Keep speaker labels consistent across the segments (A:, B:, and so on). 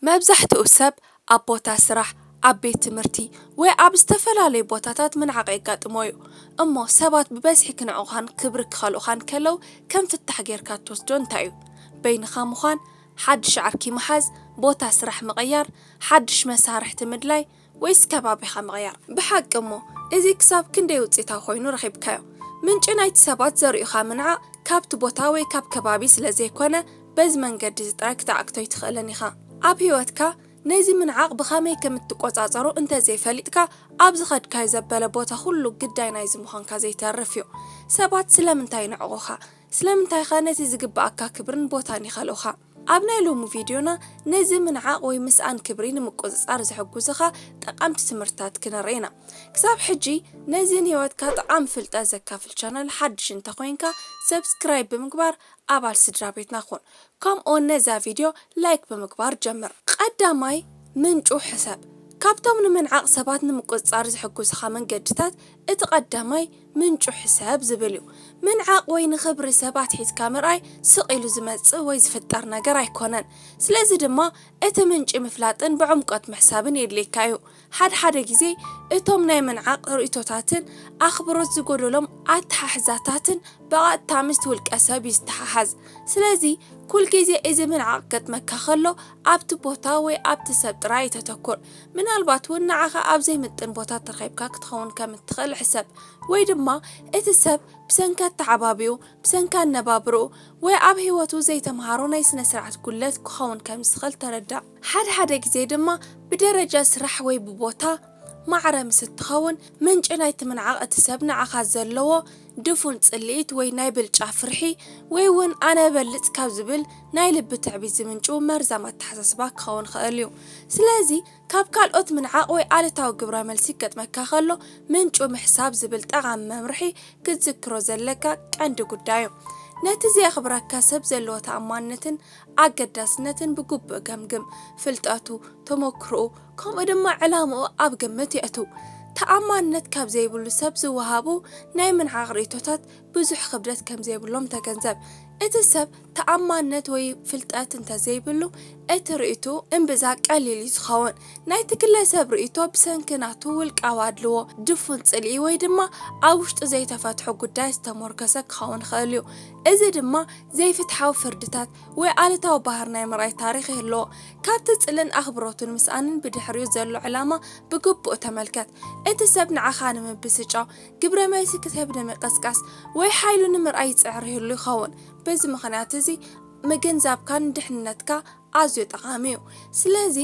A: መብዛሕትኡ ሰብ ኣብ ቦታ ስራሕ፣ ኣብ ቤት ትምህርቲ፣ ወይ ኣብ ዝተፈላለዩ ቦታታት ምንዓቕ የጋጥሞ እዩ። እሞ ሰባት ብበዝሒ ክንዕቑኻን ክብሪ ክኸልኡኻን ከለው ከም ፍታሕ ጌርካ እትወስዶ እንታይ እዩ? በይንኻ ምዃን፣ ሓድሽ ዓርኪ ምሓዝ፣ ቦታ ስራሕ ምቕያር፣ ሓድሽ መሳርሕቲ ምድላይ፣ ወይስ ከባቢኻ ምቕያር? ብሓቂ እሞ እዚ ክሳብ ክንደይ ውጽኢታዊ ዀይኑ ረኺብካዮ? ምንጪ ናይቲ ሰባት ዘርእዩኻ ምንዓቕ ካብቲ ቦታ ወይ ካብ ከባቢ ስለ ዘይኰነ፣ በዚ መንገዲ እዚ ጥራይ ክትዓግቶ ኣይትኽእልን ኢኻ። ኣብ ህይወትካ ነዚ ምንዓቕ ብኸመይ ከም እትቈጻጸሮ እንተ ዘይፈሊጥካ፣ ኣብ ዝኸድካዮ ዘበለ ቦታ ዅሉ ግዳይ ናይዚ ምዃንካ ዘይተርፍ እዩ። ሰባት ስለምንታይ ይንዕቑኻ? ስለምንታይኸ ነቲ ዚግብኣካ ክብርን ቦታን ይኸልኡኻ? ኣብ ናይ ሎሚ ቪድዮና ነዚ ምንዓቕ ወይ ምስኣን ክብሪ ንምቁጽጻር ዝሕጉዝኻ ጠቓምቲ ትምህርትታት ክነርኢ ኢና። ክሳብ ሕጂ ነዚ ንህይወትካ ጠቓሚ ፍልጠት ዘካፍል ቻነል ሓድሽ እንተ ኮይንካ Subscribe ብምግባር ኣባል ስድራቤትና ኩን። ከምኡውን ነዛ ቪድዮ ላይክ ብምግባር ጀምር። ቐዳማይ ምንጩ ሕሰብ። ካብቶም ንምንዓቕ ሰባት ንምቁጽጻር ዝሕጉዝኻ መንገድታት እቲ ቐዳማይ፣ ምንጩ ሕሰብ ዝብል እዩ። ምንዓቕ ወይ ንኽብሪ ሰባት ሒዝካ ምርኣይ ስቕ ኢሉ ዝመጽእ ወይ ዝፍጠር ነገር ኣይኮነን። ስለዚ ድማ እቲ ምንጪ ምፍላጥን ብዕምቆት ምሕሳብን የድልየካ እዩ። ሓድሓደ ግዜ እቶም ናይ ምንዓቕ ርእይቶታትን ኣኽብሮት ዝጎደሎም ኣተሓሕዛታትን ብቐጥታ ምስቲ ውልቀሰብ እዩ ዝተሓሓዝ። ስለዚ ኩልግዜ እዚ ምንዓቕ ክገጥመካ ከሎ ኣብቲ ቦታ ወይ ኣብቲ ሰብ ጥራይ ኣይተተኩር። ምናልባት እውን ንዓኻ ኣብ ዘይምጥን ቦታ ተረኺብካ ክትኸውን ከም እትኽእል ሕሰብ። ወይ ድማ እቲ ሰብ ብሰንኪ ኣተዓባብይኡ፣ ብሰንኪ ኣነባብራኡ፣ ወይ ኣብ ህይወቱ ዘይተመሃሮ ናይ ስነ-ስርዓት ጉድለት ክኸውን ከም ዝኽእል ተረዳእ። ሓድሓደ ግዜ ድማ ብደረጃ ስራሕ ወይ ብቦታ ማዕረ ምስ እትኸውን፣ ምንጪ ናይቲ ምንዓቕ እቲ ሰብ ንዓኻ ዘለዎ ድፉን ጽልኢት ወይ ናይ ብልጫ ፍርሒ ወይ'ውን ኣነ እበልጽ ካብ ዝብል ናይ ልቢ ትዕቢት ዝምንጩ መርዛም ኣተሓሳስባ ክኸውን ይኽእል እዩ። ስለዚ ካብ ካልኦት ምንዓቕ ወይ ኣሉታዊ ግብረመልሲ ክገጥመካ ከሎ ምንጩ ምሕሳብ ዝብል ጠቓሚ መምርሒ ክትዝክሮ ዘለካ ቀንዲ ጉዳይ እዩ። ነቲ ዜኽብረካ ሰብ ዘለዎ ተኣማንነትን ኣገዳስነትን ብግቡእ ገምግም። ፍልጠቱ፣ ተመክሮኡ፣ ከምኡ ድማ ዕላምኡ ኣብ ግምት የእቱ። ተኣማንነት ካብ ዘይብሉ ሰብ ዝወሃቡ ናይ ምንዓቕ ርእይቶታት ብዙሕ ክብደት ከም ዘይብሎም ተገንዘብ። እቲ ሰብ ተኣማንነት ወይ ፍልጠት እንተ ዘይብሉ፣ እቲ ርእይቶኡ እምብዛ ቀሊል እዩ ዝኸውን። ናይቲ ግለ ሰብ ርእይቶ ብሰንኪ ናቱ ውልቃዊ ኣድልዎ፣ ድፉን ጽልኢ ወይ ድማ ኣብ ውሽጡ ዘይተፈትሑ ጉዳያት ዝተሞርከሰ ክኸውን ይኽእል እዩ። እዚ ድማ ዘይፍትሓዊ ፍርድታት ወይ ኣሉታዊ ባህሪ ናይ ምርኣይ ታሪኽ ይህልዎ። ካብቲ ጽልን ኣኽብሮትን ምስኣንን ብድሕሪኡ ዘሎ ዕላማ ብግቡእ ተመልከት። እቲ ሰብ ንዓኻ ንምብስጫው፣ ግብረ መልሲ ክትህብ ንምቕስቃስ፣ ወይ ሓይሉ ንምርኣይ ይጽዕር ይህሉ ይኸውን። በዚ ምኽንያት እዚ ምግንዛብካ ንድሕንነትካ ኣዝዩ ጠቓሚ እዩ። ስለዚ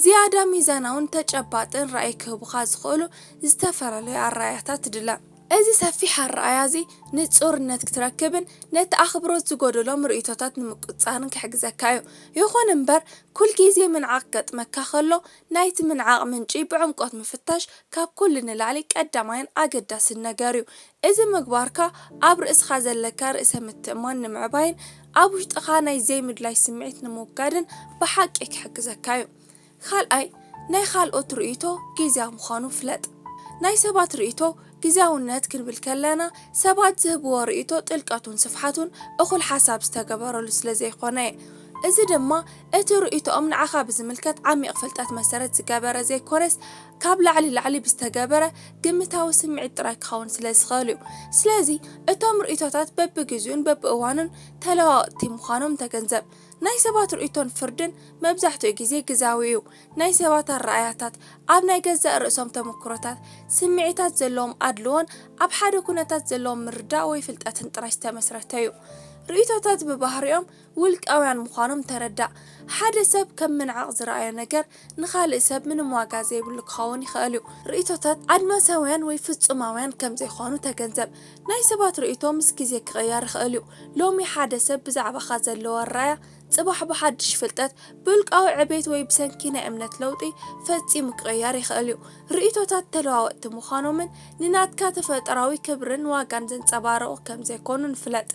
A: ዝያዳ ሚዛናውን ተጨባጥን ራእይ ክህቡኻ ዝኽእሉ ዝተፈላለዩ ኣረኣእያታት ድለ። እዚ ሰፊሕ ኣረኣእያ እዚ ንጹርነት ክትረክብን ነቲ ኣኽብሮት ዝጎደሎም ርእይቶታት ንምቁጽጻርን ክሕግዘካ እዩ። ይኹን እምበር፣ ኩል ግዜ ምንዓቕ ክገጥመካ ከሎ፣ ናይቲ ምንዓቕ ምንጪ ብዕምቆት ምፍታሽ ካብ ኩሉ ንላዕሊ ቀዳማይን ኣገዳስን ነገር እዩ። እዚ ምግባርካ ኣብ ርእስኻ ዘለካ ርእሰ ምትእምማን ንምዕባይን ኣብ ውሽጥኻ ናይ ዘይምድላይ ስምዒት ንምውጋድን ብሓቂ ክሕግዘካ እዩ። ካልኣይ፣ ናይ ኻልኦት ርእይቶ ጊዝያዊ ምዃኑ ፍለጥ። ናይ ሰባት ርእይቶ ጊዝያውነት ክንብል ከለና፣ ሰባት ዝህብዎ ርእይቶ ጥልቀቱን ስፍሓቱን እኹል ሓሳብ ዝተገበረሉ ስለ ዘይኮነ'የ። እዚ ድማ እቲ ርእይቶኦም ንዓኻ ብዝምልከት ዓሚቕ ፍልጠት መሰረት ዝገበረ ዘይኮነስ፣ ካብ ላዕሊ ላዕሊ ብዝተገበረ ግምታዊ ስምዒት ጥራይ ክኸውን ስለ ዝኽእል'ዩ። ስለዚ እቶም ርእይቶታት በብጊዚኡን በብእዋኑን ተለዋወጥቲ ምዃኖም ተገንዘብ። ናይ ሰባት ርእይቶን ፍርድን መብዛሕትኡ ግዜ ግዝያዊ እዩ። ናይ ሰባት ኣረኣእያታት፣ ኣብ ናይ ገዛእ ርእሶም ተመክሮታት፣ ስምዒታት፣ ዘለዎም ኣድልዎን ኣብ ሓደ ኩነታት ዘለዎም ምርዳእ ወይ ፍልጠትን ጥራይ ዝተመስረተ እዩ። ርእይቶታት ብባህሪኦም ውልቃውያን ምዃኖም ተረዳእ። ሓደ ሰብ ከም ምንዓቕ ዝረኣዮ ነገር ንኻልእ ሰብ ምንም ዋጋ ዘይብሉ ክኸውን ይኸእል እዩ። ርእይቶታት ኣድማሳውያን ወይ ፍጹማውያን ከም ዘይኮኑ ተገንዘብ። ናይ ሰባት ርእይቶ ምስ ግዜ ክቕየር ይኸእል እዩ። ሎሚ ሓደ ሰብ ብዛዕባኻ ዘለዎ ኣረኣእያ፣ ጽባሕ ብሓድሽ ፍልጠት፣ ብውልቃዊ ዕቤት ወይ ብሰንኪ ናይ እምነት ለውጢ ፈጺሙ ክቕየር ይኸእል እዩ። ርእይቶታት ተለዋወጥቲ ምዃኖምን ንናትካ ተፈጥሮኣዊ ክብርን ዋጋን ዘንጸባርቑ ከም ዘይኮኑን ፍለጥ።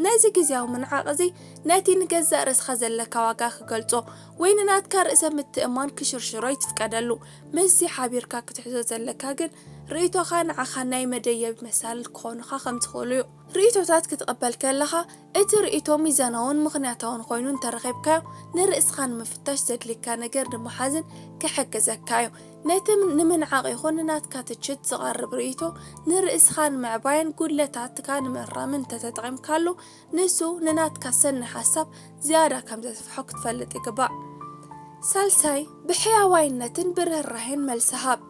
A: ነዚ ግዝያዊ ምንዓቕ እዚ ነቲ ንገዛእ ርእስኻ ዘለካ ዋጋ ክገልጾ ወይ ንናትካ ርእሰ ምትእምማን ክሽርሽሮ ኣይትፍቀደሉ። ምስዚ ሓቢርካ ክትሕዞ ዘለካ ግን ርእይቶኻ ንዓኻ ናይ መደየቢ መሳልል ክኾኑኻ ከም ዝኽእሉ እዩ። ርእይቶታት ክትቕበል ከለኻ እቲ ርእይቶ ሚዛናውን ምኽንያታውን ኾይኑ እንተረኺብካዮ ንርእስኻ ንምፍታሽ ዘድልየካ ነገር ንምሓዝን ክሕግዘካ እዩ። ነቲ ንምንዓቕ ይኹን ንናትካ ትችት ዝቐርብ ርእይቶ ንርእስኻ ንምዕባይን ጉድለታትካ ንምእራምን እንተተጠቒምካሉ፣ ንሱ ንናትካ ሰኒ ሓሳብ ዝያዳ ከም ዘስፍሖ ክትፈልጥ ይግባእ። ሳልሳይ፣ ብሕያዋይነትን ብርህራሄን መልሲ ሃብ።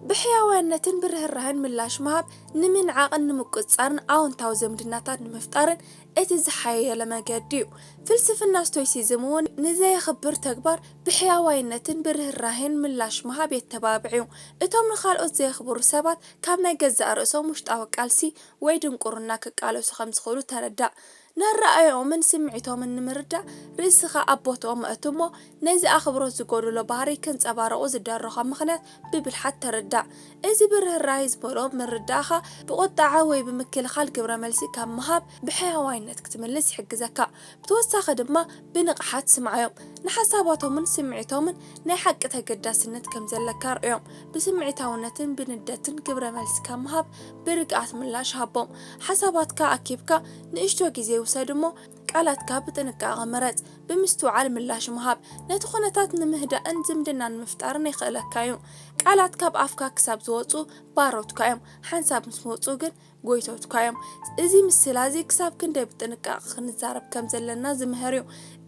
A: ብሕያዋይነትን ብርህራሄን ምላሽ ምሃብ፣ ንምንዓቕን ንምቁጽጻርን ኣወንታዊ ዝምድናታት ንምፍጣርን እቲ ዝሓየለ መገዲ'ዩ። ፍልስፍና ስቶይሲዝም'ውን ንዘየኽብር ተግባር ብሕያዋይነትን ብርህራሄን ምላሽ ምሃብ የተባብዕ'ዩ። እቶም ንኻልኦት ዘየኽብሩ ሰባት ካብ ናይ ገዛእ ርእሶም ውሽጣዊ ቃልሲ ወይ ድንቁርና ክቃለሱ ከም ዝኽእሉ ተረዳእ። ነኣረኣእያኦምን ስምዒቶምን ንምርዳእ ርእስኻ ኣብ ቦትኦም ኣእቱ እሞ ነዚ ኣኽብሮት ዝጎደሎ ባህርይ ከንጸባርቑ ዝዳረኾም ምኽንያት ብብልሓት ተረዳእ። እዚ ብርህራሄ ዝመልኦ ምርዳእኻ ብቑጠዓ ወይ ብምክልኻል ግብረ መልሲ ካብ ምሃብ ብሕያዋይነት ክትምልስ ይሕግዘካ። ብተወሳኺ ድማ ብንቕሓት ስምዓዮም። ንሓሳባቶምን ስምዒቶምን ናይ ሓቂ ተገዳስነት ከም ዘለካ ርእዮም። ብስምዒታውነትን ብንደትን ግብረ መልሲ ካብ ምሃብ ብርግኣት ምላሽ ሃቦም። ሓሳባትካ ኣኪብካ ንእሽቶ ግዜ ውሰድ እሞ ቃላትካ ብጥንቃቐ ምረጽ። ብምስትውዓል ምላሽ ምሃብ፣ ነቲ ኩነታት ንምህዳእን ዝምድና ንምፍጣርን የኽእለካ እዩ። ቃላት ካብ ኣፍካ ክሳብ ዝወጹ ባሮትካ እዮም፣ ሓንሳብ ምስ ወጹ ግን። ጐይቶትካ እዮም። እዚ ምስላ እዚ ክሳብ ክንደይ ብጥንቃቐ ኽንዛረብ ከም ዘለና ዚምህር እዩ።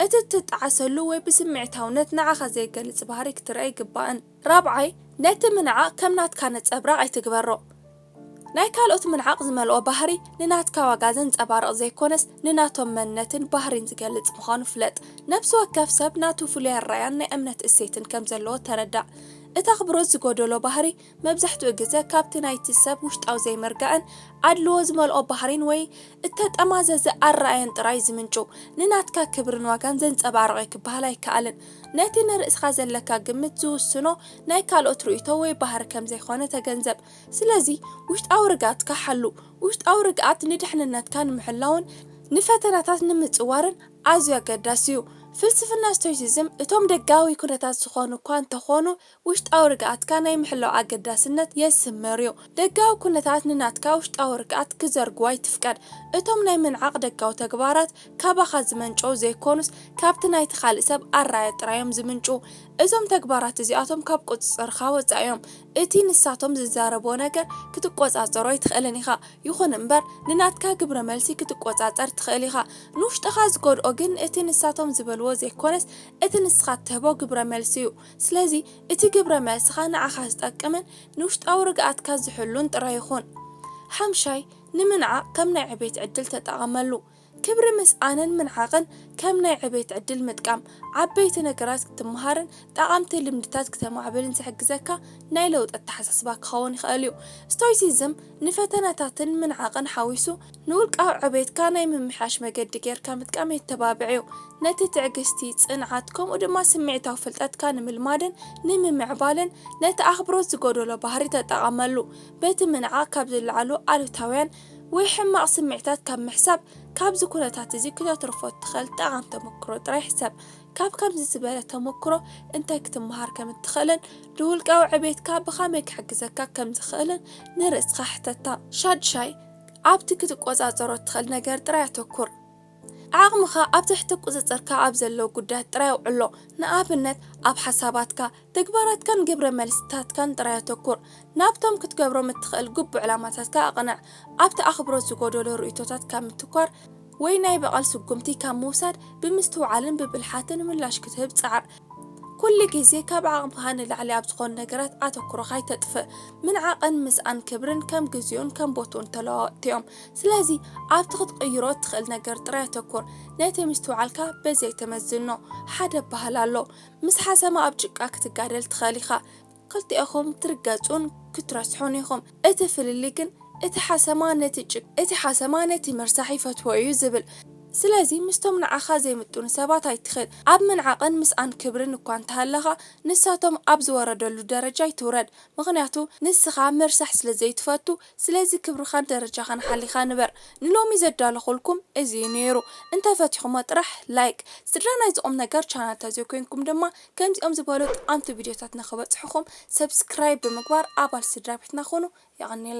A: እቲ እትጠዓሰሉ ወይ ብስምዒታውነት ንዓኻ ዜገልጽ ባህርይ ክትርእ ኣይግባእን። ራብዓይ፣ ነቲ ምንዓቕ ከም ናትካ ነጸብራቕ ኣይትግበሮ። ናይ ካልኦት ምንዓቕ ዝመልኦ ባህርይ ንናትካ ዋጋ ዘንጸባርቕ ዘይኰነስ፣ ንናቶም መንነትን ባህርይን ዚገልጽ ምዃኑ ፍለጥ። ነፍሲ ወከፍ ሰብ ናቱ ፍሉይ ኣረኣእያን ናይ እምነት እሴትን ከም ዘለዎ ተረዳእ። እቲ ኣኽብሮት ዝጐደሎ ባህርይ፣ መብዛሕትኡ ግዘ ካብቲ ናይቲ ሰብ ውሽጣዊ ዘይምርጋእን ኣድልዎ ዝመልኦ ባህሪን ወይ እተጠማዘዘ ኣረኣእያን ጥራይ ዝምንጩ፣ ንናትካ ክብርን ዋጋን ዘንጸባርቕ እዩ ክበሃል ኣይከኣልን። ነቲ ንርእስኻ ዘለካ ግምት ዝውስኖ ናይ ካልኦት ርእይቶ ወይ ባህሪ ከም ዘይኮነ ተገንዘብ። ስለዚ ውሽጣዊ ርግኣትካ ሓሉ። ውሽጣዊ ርግኣት ንድሕንነትካ ንምሕላውን ንፈተናታት ንምጽዋርን ኣዝዩ ኣገዳሲ እዩ። ፍልስፍና ስቶይሲዝም እቶም ደጋዊ ኵነታት ዝኾኑ እኳ እንተኾኑ ውሽጣዊ ርግኣትካ ናይ ምሕላው ኣገዳስነት የስምር'ዩ። ደጋዊ ኩነታት ንናትካ ውሽጣዊ ርግኣት ክዘርግዎ ኣይትፍቀድ። እቶም ናይ ምንዓቕ ደጋዊ ተግባራት ካባኻ ዝመንጨዉ ዘይኮኑስ ካብቲ ናይቲ ካልእ ሰብ ኣረኣእያ ጥራይ'ዮም ዝምንጩ። እዞም ተግባራት እዚኣቶም ካብ ቁጽጽርካ ወጻኢ'ዮም። እቲ ንሳቶም ዝዛረብዎ ነገር ክትቆጻጸሮ ኣይትኽእልን ኢኻ። ይኹን'ምበር ንናትካ ግብረመልሲ ክትቆጻጸር ትኽእል ኢኻ። ንውሽጥኻ ዝጎድኦ ግን እቲ ንሳቶም ዝበልዎ ዘይኮነስ እቲ ንስኻ እትህቦ ግብረመልሲ'ዩ። ስለዚ እቲ ግብረ መልስኻ ንዓኻ ዝጠቅምን ንውሽጣዊ ርግኣትካ ዝሕሉን ጥራይ ይኹን። ሓምሻይ፣ ንምንዓቕ ከም ናይ ዕቤት ዕድል ተጠቐመሉ። ክብሪ ምስኣንን ምንዓቕን ከም ናይ ዕቤት ዕድል ምጥቃም፣ ዓበይቲ ነገራት ክትመሃርን ጠቓምቲ ልምድታት ክተማዕብልን ዝሕግዘካ ናይ ለውጢ ኣተሓሳስባ ክኸውን ይኽእል እዩ። ስቶይሲዝም ንፈተነታትን ምንዓቕን ሓዊሱ፣ ንውልቃዊ ዕቤትካ ናይ ምምሕያሽ መገዲ ጌርካ ምጥቃም የተባብዕ እዩ። ነቲ ትዕግስቲ፣ ጽንዓት፣ ከምኡ ድማ ስምዒታዊ ፍልጠትካ ንምልማድን ንምምዕባልን ነቲ ኣኽብሮት ዝጎደሎ ባህሪ ተጠቐመሉ። በቲ ምንዓቕ ካብ ዝለዓሉ ኣሉታውያን ወይ ሕማቕ ስምዒታት ካብ ምሕሳብ፣ ካብዚ ኩነታት እዚ ክተትርፎ እትኽእል ጠቓም ተመክሮ ጥራይ ሕሰብ። ካብ ከምዚ ዝበለ ተመክሮ እንታይ ክትመሃር ከም እትኽእልን ንውልቃዊ ዕቤትካ ብኸመይ ክሕግዘካ ከም ዝኽእልን ንርእስኻ ሕተታ። ሻድሻይ፣ ኣብቲ ክትቆጻጸሮ እትኽእል ነገር ጥራይ ኣተኩር። ዓቕምኻ ኣብ ትሕቲ ቍጽጽርካ ኣብ ዘለዉ ጕዳያት ጥራይ ኣውዕሎ። ንኣብነት፣ ኣብ ሓሳባትካ፣ ተግባራትካን ግብረ መልስታትካን ጥራይ ኣተኩር። ናብቶም ክትገብሮም እትኽእል ግቡእ ዕላማታትካ ኣቕንዕ። ኣብቲ ኣኽብሮት ዝጐደሎ ርእይቶታት ካብ ምትኳር ወይ ናይ በቐል ስጕምቲ ካብ ምውሳድ ብምስትውዓልን ብብልሓትን ምላሽ ክትህብ ጻዕር። ኩሉ ግዜ ካብ ዓቕምካ ንላዕሊ ኣብ ዝኾኑ ነገራት ኣተኩሮኻ ኣይተጥፍእ። ምንዓቕን ምስኣን ክብርን ከም ግዜኡን ከም ቦትኡን ተለዋወጥቲ እዮም። ስለዚ ኣብቲ ክትቕይሮ እትኽእል ነገር ጥራይ ኣተኩር። ነቲ ምስትውዓልካ በዚ ኣይተመዝኖ። ሓደ ኣበሃህላ ኣሎ፣ ምስ ሓሰማ ኣብ ጭቃ ክትጋደል ትኽእል ኢኻ፣ ክልቲኤኹም ትርገጹን ክትረስሑን ኢኹም። እቲ ፍልልይ ግን እቲ ሓሰማ ነቲ ጭቃ፣ እቲ ሓሰማ ነቲ ምርሳሕ ይፈትዎ እዩ ዝብል። ስለዚ ምስቶም ንዓኻ ዘይምጥኑ ሰባት ኣይትኺድ። ኣብ ምንዓቕን ምስኣን ክብርን እኳ እንተሃለኻ፣ ንሳቶም ኣብ ዝወረደሉ ደረጃ ኣይትውረድ። ምኽንያቱ ንስኻ ምርሳሕ ስለ ዘይትፈቱ፣ ስለዚ ክብርኻን ደረጃኻን ሓሊኻ ንበር። ንሎሚ ዘዳለኹልኩም እዚ እዩ ነይሩ። እንተፈቲኹሞ ጥራሕ ላይክ፣ ስድራ ናይዚ ቁምነገር ቻናል ተዘይኮይንኩም ድማ ከምዚኦም ዝበሉ ጠቀምቲ ቪድዮታትና ክበጽሑኹም ሰብስክራይብ ብምግባር ኣባል ስድራቤትና ኩኑ። የቀንየልና!